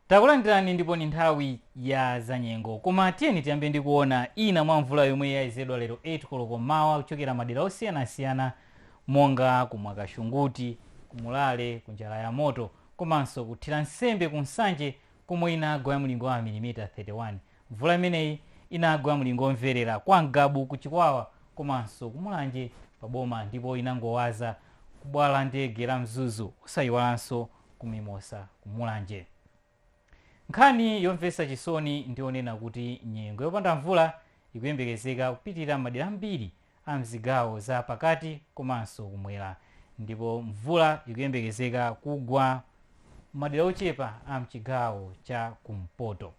Takulandirani ndipo ndi nthawi ya zanyengo koma tiyeni tiyambe ndi kuona ina mwa mvula yomwe yayezedwa lero 8 koloko mmawa kuchokera madera osiyanasiyana monga ku Mwakashunguti, ku Mulale, ku Njalayamoto komanso ku Thiransembe ku Nsanje komwe inagwa ya mlingo wa mamilimita 31. Mvula imeneyi inagwa ya mlingo omverera kwa Mgabu ku Chikwawa komanso ku Mulanje pa boma ndipo inangowaza ku bwalo la ndege la Mzuzu osayiwalanso ku Mimosa ku Mulanje. Nkhani yomvetsa chisoni ndi yonena kuti nyengo yopanda mvula ikuyembekezeka kupitirira m'madera ambiri a m'zigawo za pakati komanso kumwera ndipo mvula ikuyembekezeka kugwa m'madera ochepa a m'chigawo cha kumpoto.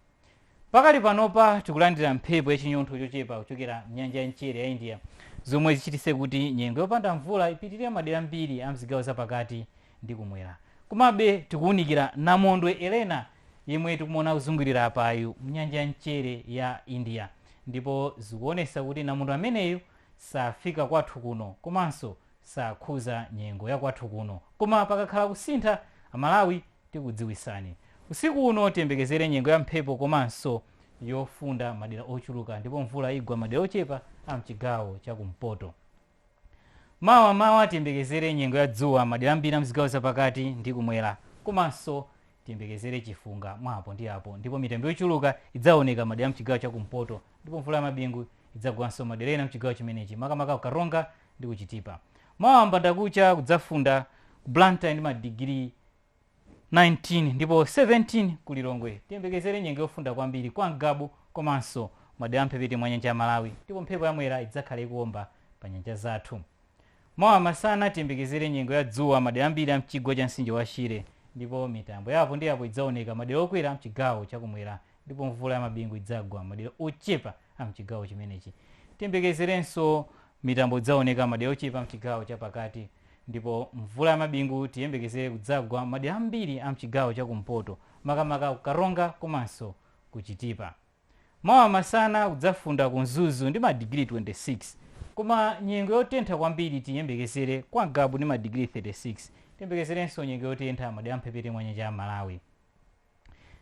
Pakali panopa tikulandira mphepo ya chinyontho chochepa kuchokera mnyanja ya mchere ya India zomwe zichitise kuti nyengo yopanda mvula ipitilire madera ambiri a mzigawo za pakati ndi kumwera. Komabe tikuwunikira namondwe Elena yemwe tikumuona akuzungulira apayu mnyanja ya mchere ya India ndipo zikuwonesa kuti namondwe ameneyu safika kwathu kuno komanso sakhuza nyengo ya kwathu kuno. Koma pakakhala kusintha, a Malawi tikudziwitsani. Usiku uno tiyembekezere nyengo ya mphepo komanso yofunda madera ochuluka ndipo mvula igwa madera ochepa a mchigawo cha kumpoto. Mawa mmawa tiyembekezere nyengo ya dzuwa madera ambiri a mzigawo zapakati ndi kumwera komanso tiyembekezere chifunga mwa apo ndi apo ndipo mitambo yochuluka idzaoneka madera mchigawo cha kumpoto ndipo mvula ya mabingu idzagwanso madera ena mchigawo chimenechi makamaka ku karonga ndi ku chitipa mawa mbandakucha kudzafunda ku blantyre ndi madigiri 19 ndipo 17 ku Lilongwe tiyembekezere nyengo yofunda kwambiri kwa mgabu komanso madera amphepete mwa nyanja ya Malawi ndipo mphepo ya mwera idzakhala ikuwomba pa nyanja zathu. Mawa masana tiyembekezere nyengo ya dzuwa madera ambiri a m'chigwa cha mtsinje wa Shire ndipo mitambo ya apo ndi apo idzaoneka madera okwera mchigawo chakumwera ndipo mvula ya mabingu idzagwa madera ochepa a mchigawo chimenechi. Tiyembekezerenso mitambo idzaoneka madera ochepa mchigawo chapakati Ndipo mvula ya mabingu tiyembekezere kudzagwa m'madera ambiri a m'chigawo cha kumpoto makamaka ku Karonga komanso ku Chitipa. Mawa masana kudzafunda ku Mzuzu ndi madigiri 26 koma nyengo yotentha kwambiri tiyembekezere kwa Mgabu ndi madigiri 36. Tiyembekezerenso nyengo yotentha m'madera a m'mphepete mwa nyanja ya Malawi.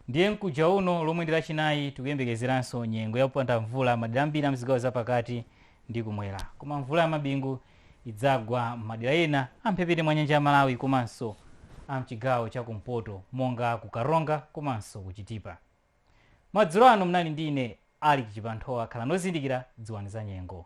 Ndiye mkuja uno lomwe ndi lachinayi tikuyembekezeranso nyengo ya kupanda mvula madera ambiri a mzigawo za pakati ndi kumwera koma mvula ya mabingu idzagwa m'madera ena a mphepete mwa nyanja ya Malawi komanso a mchigawo cha kumpoto monga ku Karonga komanso ku Chitipa. Madzulo ano munali ndi ine Alick Chipanthowa khalani ozindikira dziwani za nyengo.